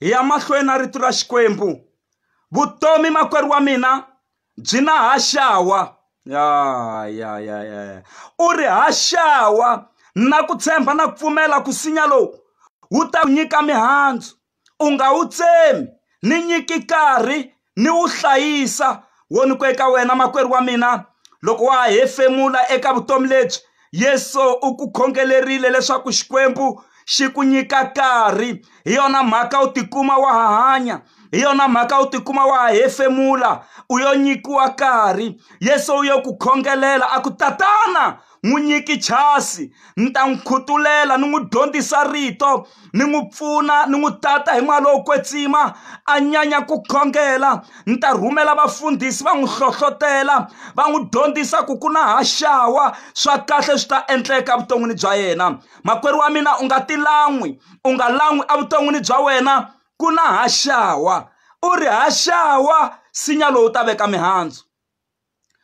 hi ya mahlweni na rito ra xikwembu vutomi makwerhu wa mina byi na haxawa ya ya ya ya ya u ri haxawa na ku tshemba na ku pfumela ku sinya lowu wu ta ku nyika mihandzu u nga wu tsemi ni nyiki karhi ni wu hlayisa wo ni ku eka wena makwerhu wa mina loko wa ha hefemula eka vutomi lebyi yesu u ku khongelerile leswaku xikwembu xi ku nyika nkarhi hi yona mhaka u tikuma wa ha hanya hi yona mhaka u tikuma wa ha hefemula u yo nyikiwa nkarhi yesu u yo ku khongelela a ku tatana n'wi nyiki chasi ni ta n'wi khutulela ni n'wi dyondzisa rito ni n'wi pfuna ni n'wi tata hi mali lowo kwetsima a nyanya ku khongela ni ta rhumela vafundhisi va n'wi hlohlotela va n'wi dyondzisa ku ku na haxawa swa kahle swi ta endleka evuton'wini bya yena makwerhu wa mina u nga ti lan'wi u nga lan'wi evuton'wini bya wena ku na haxawa u ri haxawa sinya lowu ta veka mihandzu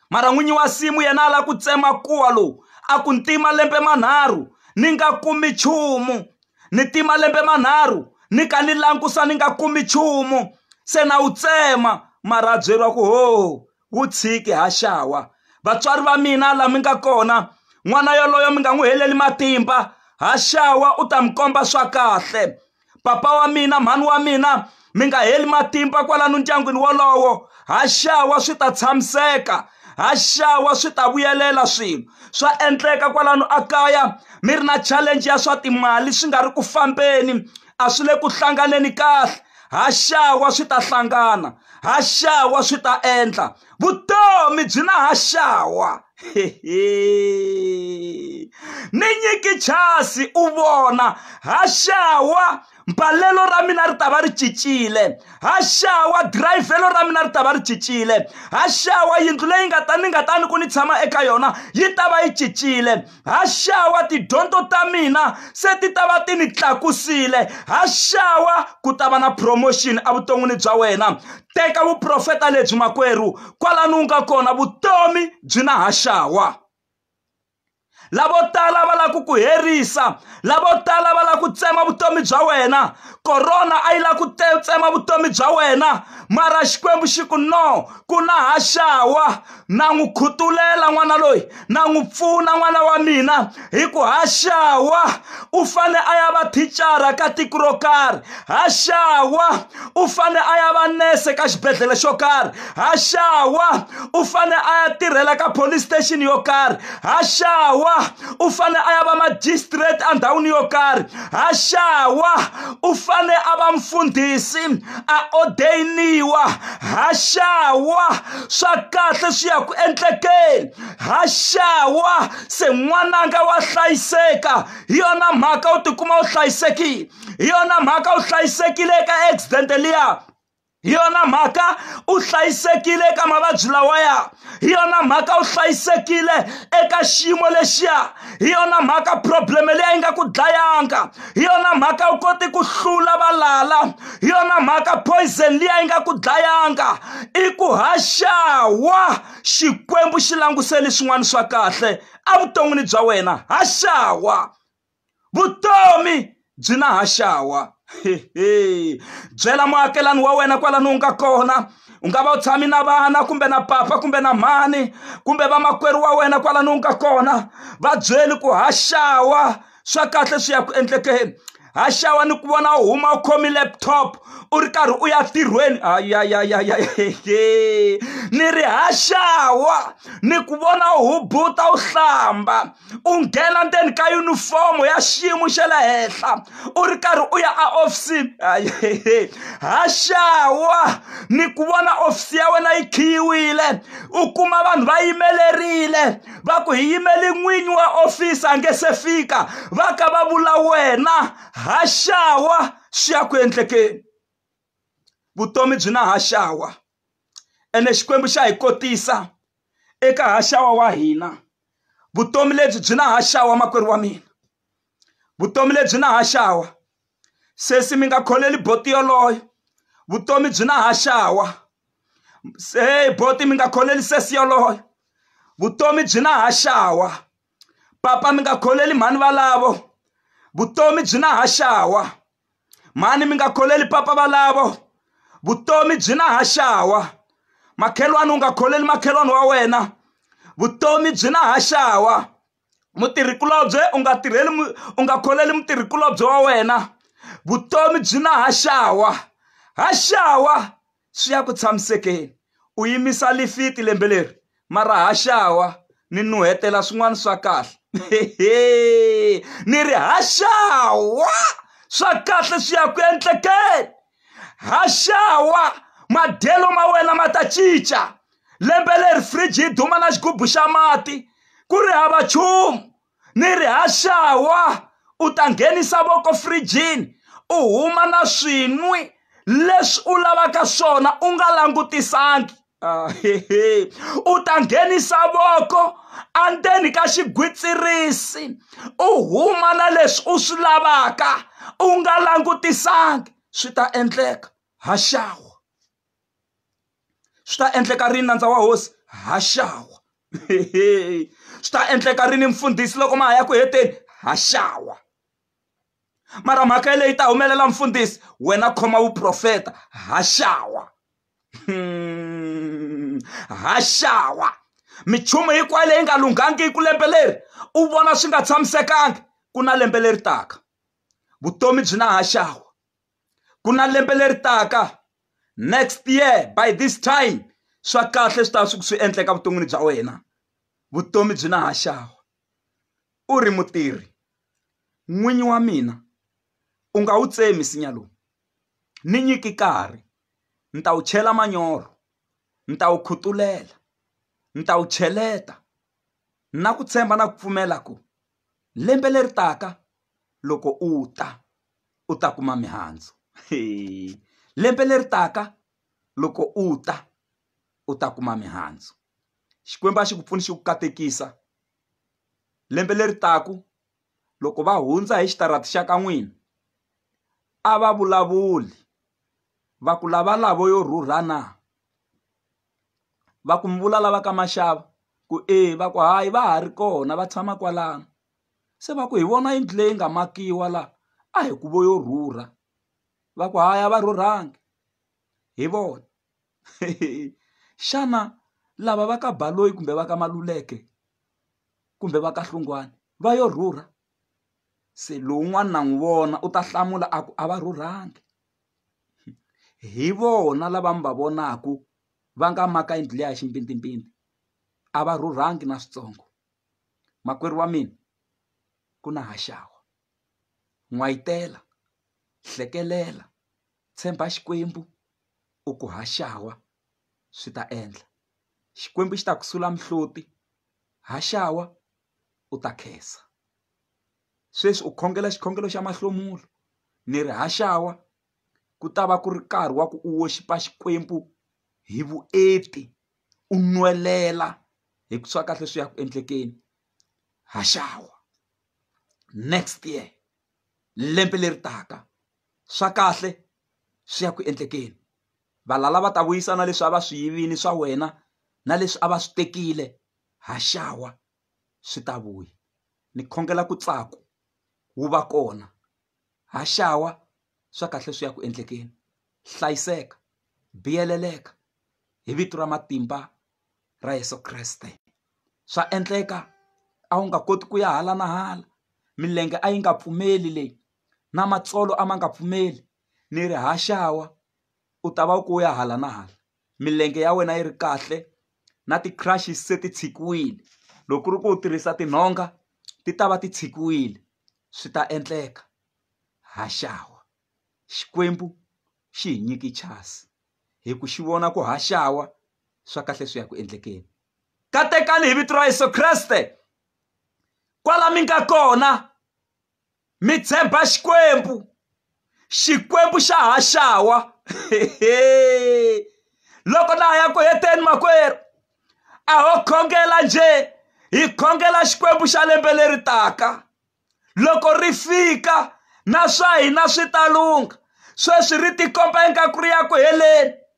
mara n'winyi wa simu yena a lava ku tsema kuwa lowu a ku ni tima lembe manharhu ni nga kumi nchumu ni tima lembe manharhu ni ka ni langusa ni nga kumi nchumu se na wu tsema mara a byeriwa ku ho wu tshiki ha xawa vatswari va mina laha mi nga kona n'wana yoloye mi nga n'wi heleli matimba ha xawa u ta mi komba swa kahle papa wa mina mhani wa mina mi nga heli matimba kwalano ndyangwini wolowo ha xawa swi ta tshamiseka ha xawa swi ta vuyelela swilo swa endleka kwalano a kaya mi ri na challenge ya swa timali swi nga ri ku fambeni a swi le ku hlanganeni kahle ha xawa swi ta hlangana ha xawa swi ta endla vutomi byi na ha xawa ni nyiki chasi u vona ha xawa mbalelo ra mina ri ta va ri cincile ha xawa dirayivhelo ra mina ri ta va ri cincile ha xawa yindlu leyi nga ta ni nga ta ni ku ni tshama eka yona yi ta va yi cincile ha xawa tidyondzo ta mina se ti ta va ti ni tlakusile ha xawa ku ta va na promotion evuton'wini bya wena teka vuprofeta lebyi makwerhu kwalani u nga kona vutomi byi na ha xawa lavo tala va lava ku ku herisa lavo tala va lava ku tsema vutomi bya wena korona a yi lava ku tsema vutomi bya wena mara xikwembu xi ku no ku na ha xawa na n'wi khutulela n'wana loyi na n'wi pfuna n'wana wa mina hi ku haxawa u fane a ya va thicara ka tiko ro karhi haxawa u fane a ya va nese ka xibedhlele xo karhi haxawa u fane a ya tirhela ka police station yo karhi haxawa u fane a ya va magistrate endhawini yo karhi haxawa u fane a va mfundhisi a odeyiniwa ha xawa swa kahle swi ya ku endlekeni ha xawa se n'wananga wa hlayiseka hi yona mhaka u tikuma u hlayisekile hi yona mhaka u hlayisekile eka accident liya hi yona mhaka u hlayisekile eka mavabyi lawaya hi yona mhaka u hlayisekile eka xiyimo lexiya hi yona mhaka probleme leyi nga ku dlayanga hi yona mhaka u koti ku hlula valala hi yona mhaka poison liya yi nga ku dlayanga i ku haxawa xikwembu xi languseli swin'wana swa kahle evuton'wini bya wena haxawa vutomi byi na ha xawa hehe byela muakelani wa wena kwalano u nga kona u nga va u tshami na vana kumbe na papa kumbe na mhani kumbe vamakwerhu wa wena kwalano u nga kona va byeli ku ha xawa swa kahle swi ya ku endlekeni ha xawa ni ku vona u huma u khomi laptop u ri karhi u ya tirhweni ayayayaya ni ri ha xawa ni ku vona u hubuta u hlamba u nghena ndzeni ka yunifomo ya xiyimo xa le henhla u ri karhi u ya a ofisini ha xawa ni ku vona ofisi ya wena yi khiyiwile u kuma vanhu va yimelerile va ku hi yimele n'winyi wa ofisi a nge se fika va ka va vula wena ha xawa swi ya ku endlekeni vutomi byi na haxawa ene Xikwembu xa hi kotisa eka haxawa wa hina vutomi lebyi byi na haxawa makwerhu wa mina vutomi lebyi na haxawa sesi mi nga kholeli boti yoloyo vutomi byi na haxawa se boti mi nga kholeli sesi yoloyo vutomi byi na haxawa papa mi nga kholeli mhani valavo vutomi byi na haxawa mhani mi nga kholeli papa valavo vutomi byi na haxawa makhelwani u nga kholeli makhelwani wa wena vutomi byi na haxawa mutirhikulobye u nga tirheli u nga kholeli mutirhikulobye wa wena vutomi byi na haxawa haxawa swi ya ku tshamisekeni. U yimisa lifiti lembe leri mara ha xawa ni nuhetela swin'wana swa kahle ni ri ha xawa swa kahle swi ya ku endlekeni ha xawa madyelo ma wena ma ta cinca lembe leri fridge yi duma na xigubu xa mati ku ri hava nchumu ni ri haxawa u ta nghenisa voko frijini u huma na swin'wi leswi u lavaka swona u nga langutisangi ah, u ta nghenisa voko andzeni ka xigwitsirisi u huma na leswi u swi lavaka u nga langutisangi swi ta endleka haxawa swi ta endleka rini nandza wa hosi haxawa swi ta endleka rini mfundhisi loko ma ha ya ku heteni haxawa mara mhaka yeleyi ta humelela mfundhisi wena khoma vuprofeta haxawa hmm. haxawa minchumu hinkwayo leyi nga lunghangiki ku lembe leri u vona swi nga tshamisekangi ku na lembe leri taka vutomi byi na haxawa ku na lembe leri taka next year by this time swa kahle swi ta swi swi endleka vuton'wini bya wena vutomi byi na ha xava u ri mutirhi n'winyi wa mina u nga wu tsemi nsinya lowu ni nyiki nkarhi ni ta wu chela manyoro ni ta wu khutulela ni ta wu cheleta na ku tshemba na ku pfumela ku lembe leri taka loko u ta u ta kuma mihandzu lembe leri taka loko u ta u ta kuma mihandzu Xikwembu a xi ku pfuni xi ku katekisa lembe leri taka loko va hundza hi xitarata xa ka n'wina a va vulavuli va ku lava lavo yo rhurha na. va ku mi vula lava ka maxava ku e va ku hayi va ha ri kona va tshama kwalano se va ku hi vona yindlu leyi nga makiwa laha a hi ku vo yo rhurha va ku hayi a va rhurhangi hi vona xana lava va ka Baloyi kumbe va ka Maluleke kumbe va ka Hlungwani va yo rhurha se lowun'wana na n'wi vona u ta hlamula a ku a va rhurhangi hi vona lava mi va vonaka va nga maka yindlu liya ya ximpindzimpindzi a va rhurhangi na switsongo makwerhu wa mina ku na haxawa n'wayitela hlekelela tshemba Xikwembu u ku haxawa swi ta endla Xikwembu xi ta ku sula mihloti haxawa u ta khensa. sweswi u khongela xikhongelo xa mahlomulo ni ri haxawa ku ta va ku ri nkarhi wa ku u woxipa xikwembu hi vuenti u nwelela hi ku swa kahle swi ya ku endlekeni haxawa next year lembe leri taka swa kahle swi ya ku endlekeni valala va ta vuyisana leswi a va swi yivini swa wena na leswi a va swi tekile haxawa swi ta vuya ni khongela ku tsako wu va kona haxawa swa kahle swi ya ku endlekeni hlayiseka biyeleleka hi vito ra matimba ra Yeso Kreste swa endleka a wu nga koti ku ya hala na hala milenge a yi nga pfumeli leyi na matsolo a ma nga pfumeli ni ri haxawa u ta va ku ya hala na hala milenge ya wena yi ri kahle na ti crushing se ti tshikiwile loko ku ri ku u tirhisa tinhonga ti ta va ti tshikiwile swi ta endleka haxawa xikwembu xi hi nyiki chasi hi ku xi vona ku haxawa swa kahle swi ya ku endlekeni katekani hi vito ra yesu kreste kwala mi nga kona mi tshemba xikwembu xikwembu xa ha xawa loko na ha ya ku heteni makwerhu a ho khongela njhe hi khongela xikwembu xa lembe leri taka loko ri fika na swa hina swi ta lungha sweswi ri tikomba ingaku ri ya ku heleni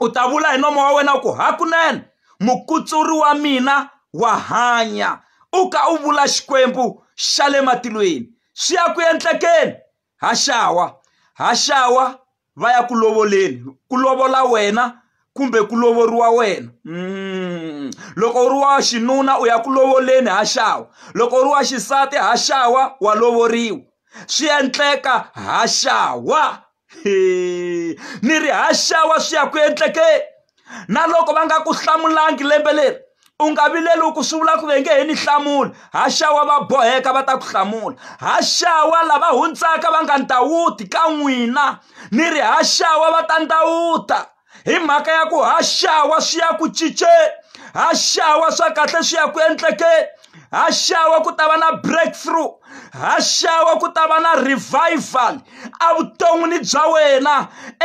u ta vula hi nomo wa wena u ku hakunene mukutsuri wa mina wa hanya u ka u vula xikwembu xa le matilweni swi ya ku endlekeni ha xawa ha xawa va ya ku lovoleni ku lovola wena kumbe ku lovoriwa wena mm. loko u ri wa xinuna u ya ku lovoleni ha xawa loko u ri wa xisati ha xawa wa lovoriwa swi endleka ha xawa ni ri haxawa swi ya ku endlekeni na loko va nga ku hlamulangi lembe leri u nga vileli ku swi vula ku ve nge he ni hlamula haxawa va boheka va ta ku hlamula haxawa lava hundzaka va nga ndawuti ka n'wina ni ri haxawa va ta ndawuta hi mhaka ya ku ha xawa swi ya ku cinceni ha xawa swa kahle swi ya ku endlekeni ha xawa ku ta va na breakthrough ha xawa ku ta va na revival evuton'wini bya wena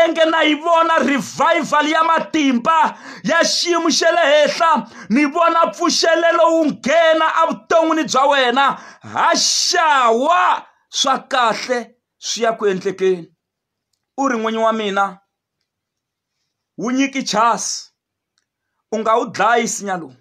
enge na yi vona revival ya matimba ya xiyimo xa le henhla ni vona pfuxelelo wu nghena evuton'wini bya wena ha xawa swa kahle swi ya ku endlekeni u ri n'winyi wa mina wu nyiki chance u nga wu dlayi nsinya lowu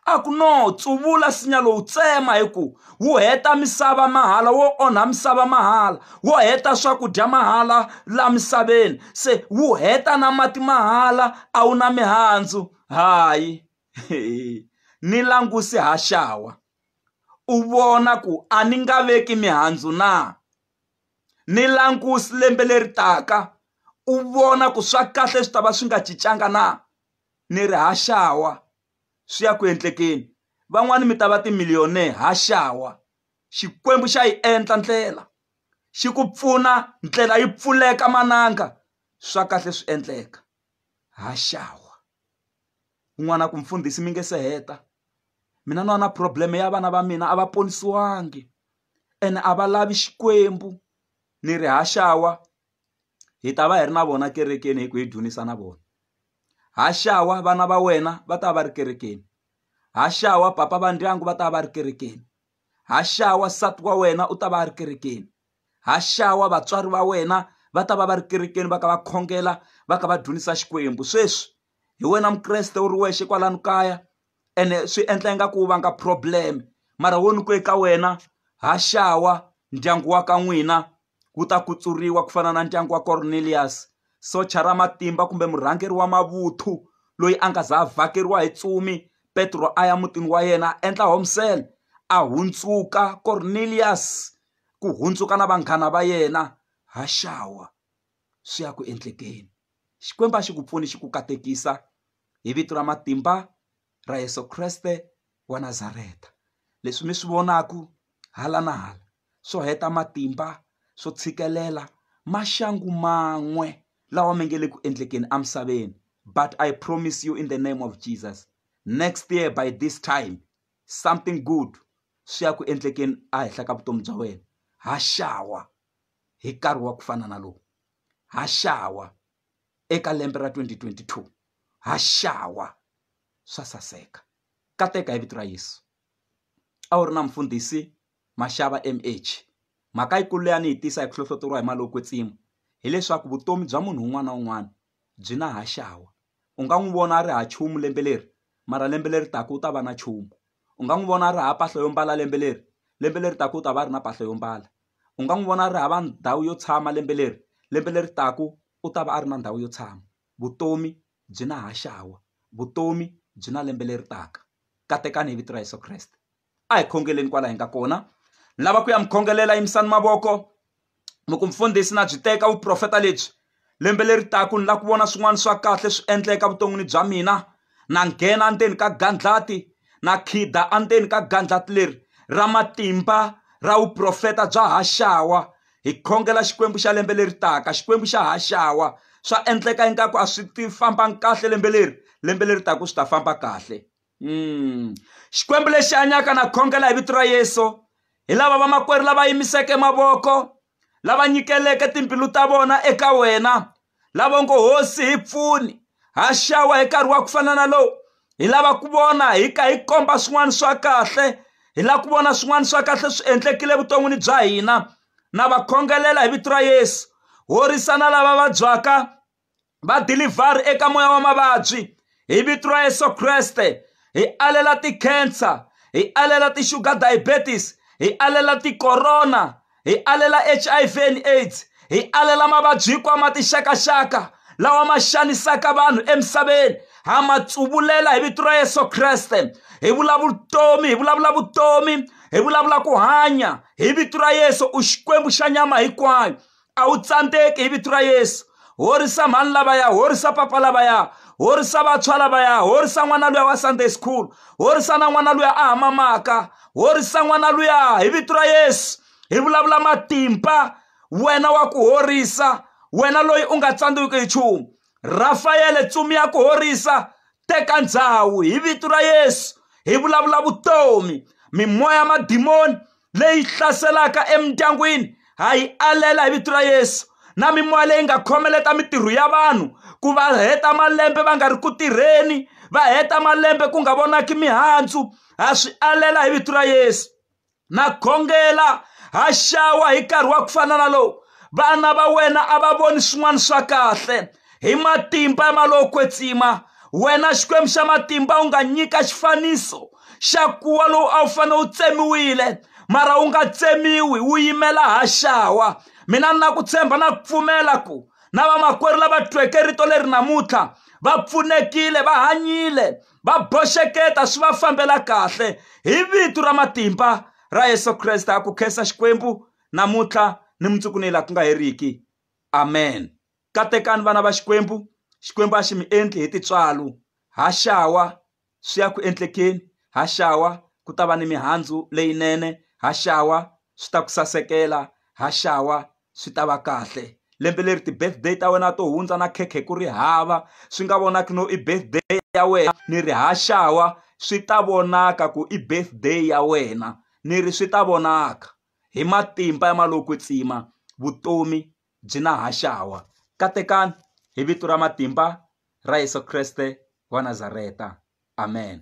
a ku no tsuvula nsinya lowu tsema hi ku wu heta misava mahala wo onha misava mahala wo heta swakudya mahala laha misaveni se wu heta na mati mahala a wu na mihandzu hayi ni languse haxawa u vona ku a ni nga veki mihandzu na. ni languse lembe leri taka u vona ku swa kahle swi ta va swi nga cincanga na ni ri haxawa swi ya ku endlekeni van'wani mi ta va ti-millionaire haxawa Xikwembu xa yi endla ndlela xi ku pfuna ndlela yi pfuleka mananga swa kahle swi endleka haxawa n'wana ku mfundhisi mi nga se heta mina ni wa na problem ya vana va mina a va ponisiwangi. ene a va lavi xikwembu ni ri haxawa hi ta va hi ri na vona ekerekeni hi ku hi dzunisa na vona haxawa vana va wena va ta va ri kerekeni haxawa papa va ndyangu va ta va ri kerekeni haxawa nsati wa wena u ta va a ri kerekeni haxawa vatswari va wena va ta va va ri kerekeni va ka va khongela va ka va dzunisa xikwembu sweswi hi wena mukreste u ri wexe kwalano kaya ene swi endla ingaku wu vanga problem mara wo ni ku eka wena ha xawa ndyangu wa ka n'wina wu ta kutsuriwa ku fana na ndyangu wa Cornelious socha ra matimba kumbe murhangeri wa mavuthu loyi a nga za a vhakeriwa hi ntsumi Petro a ya mutini wa yena a endla home cell a hundzuka Cornelious ku hundzuka na vanghana va yena ha xawa. swi ya ku endlekeni Xikwembu a xi ku pfuni xi ku katekisa hi vito ra matimba ra Yeso Kreste wa Nazareta leswi mi swi vonaku hala na hala swo heta matimba swo tshikelela maxangu man'we lawa mi nge le ku endlekeni emisaveni but I promise you in the name of Jesus next year by this time something good swi ya ku endlekeni a henhla ka vutomi bya wena ha xawa. hi nkarhi wa ku fana na lowu ha xawa eka lembe ra 2022 ha xawa swa saseka kateka hi vito ra Yesu a wu ri na mfundhisi Mashava MH mhaka yikulu leyi a ni yi tisa hi ku hlohloteriwa hi mali yo kwetsima hileswaku vutomi bya munhu un'wana na un'wana byi na ha xawa u nga n'wi vona a ri ha chumu lembe leri mara lembe leri taka u ta va na chumu u nga n'wi vona a ri ha mpahla yo mbala lembe leri lembe leri taka u ta va a ri na mpahla yo mbala u nga n'wi vona a ri hava ndhawu yo tshama lembe leri lembe leri taka u ta va a ri na ndhawu yo tshama vutomi byi na haxawa vutomi byi na lembe leri taka katekani hi vito ra Yeso Kreste a hi khongeleni kwala hi nga kona ni lava ku ya mi khongelela yimisani mavoko loko mfundhisi na byi teka vuprofeta lebyi lembe leri taka ni lava ku vona swin'wana swa kahle swi endleka evuton'wini bya mina na nghena endzeni ka gandlati na khida endzeni ka gandlati leri ra matimba ra vuprofeta bya haxawa hi khongela xikwembu xa lembe leri taka xikwembu xa haxawa swa endleka ingaku a swi ti fambanga kahle lembe leri lembe leri taka swi ta famba kahle Mm. xikwembu lexi hanyaka na khongela hi vito ra yesu hi lava vamakwerhu lava yimiseke mavoko lava nyikeleke timbilu ta vona eka wena lava ngo hosi hi pfuni ha xawa hi nkarhi wa ku fana na lowu hi lava ku vona hi ka hi komba swin'wana swa kahle hi lava ku vona swin'wana swa kahle swi endlekile evuton'wini bya hina na va khongelela hi vito ra yesu horisana lava vabyaka vadilivhari eka moya wa mavabyi hi vito ra yesu kreste hi alela ti-cancer hi alela ti-sugar diabetes hi alela ti-corona hi alela H_I_V and AIDS hi alela mavabyi hinkwawo ma tixakaxaka lawa ma xanisaka vanhu emisaveni ha ma tsuvulela hi vito ra yesu kreste hi vulavula vutomi hi vulavula vutomi hi vulavula ku hanya hi vito ra yesu u xikwembu xa nyama hinkwayo a wu tsandzeki hi vito ra yesu horisa mhani lavaya horisa papa lavaya horisa vantshwa lavaya horisa n'wana luya wa sunday school horisa na n'wana luya a hamamaka horisa n'wana luya hi vito ra yesu hi vulavula matimba wena wa ku horisa wena loyi u nga tsandziwiki hi nchumu Rafayele tsumi ya ku horisa teka ndhawu hi vito ra Yesu hi vulavula vutomi mimoya madimoni leyi hlaselaka emindyangwini ha yi alela hi vito ra Yesu na mimoya leyi nga khomeleta mitirho ya vanhu ku va heta malembe va nga ri ku tirheni va heta malembe ku nga vonaki mihandzu ha swi alela hi vito ra Yesu na khongela ha xawa hi nkarhi wa ku fana na lowu vana va wena a va voni swin'wana swa kahle hi matimba ya malowo kwetsima wena xikwembu xa matimba u nga nyika xifaniso xa kuwa lowu a wu fanele wu tsemiwile mara wu nga tsemiwi wu yimela ha xawa mina ni na ku tshemba na ku pfumela ku na vamakwerhu lava tweke rito leri namuntlha va pfunekile va hanyile va boxeketa swi va fambela kahle hi vito ra matimba ra yesu kreste a ku khensa xikwembu namuntlha ni mundzuku ni laha ku nga heriki amen katekani vana va xikwembu xikwembu a xi mi endli hi titswalo ha xawa swi ya ku endlekeni ha xawa ku ta va ni mihandzu leyinene ha xawa swi ta ku sasekela ha xawa swi ta va kahle lembe leri ti-birthday ta wena to hundza na khekhe ku ri hava swi nga vonaki no i birthday ya wena ni ri haxawa swi ta vonaka ku i birthday ya wena ni ri swi ta vonaka hi matimba ya ma lo kwetsima vutomi byi na haxawa katekani hi vito ra matimba ra Yeso Kreste wa Nazareta amen.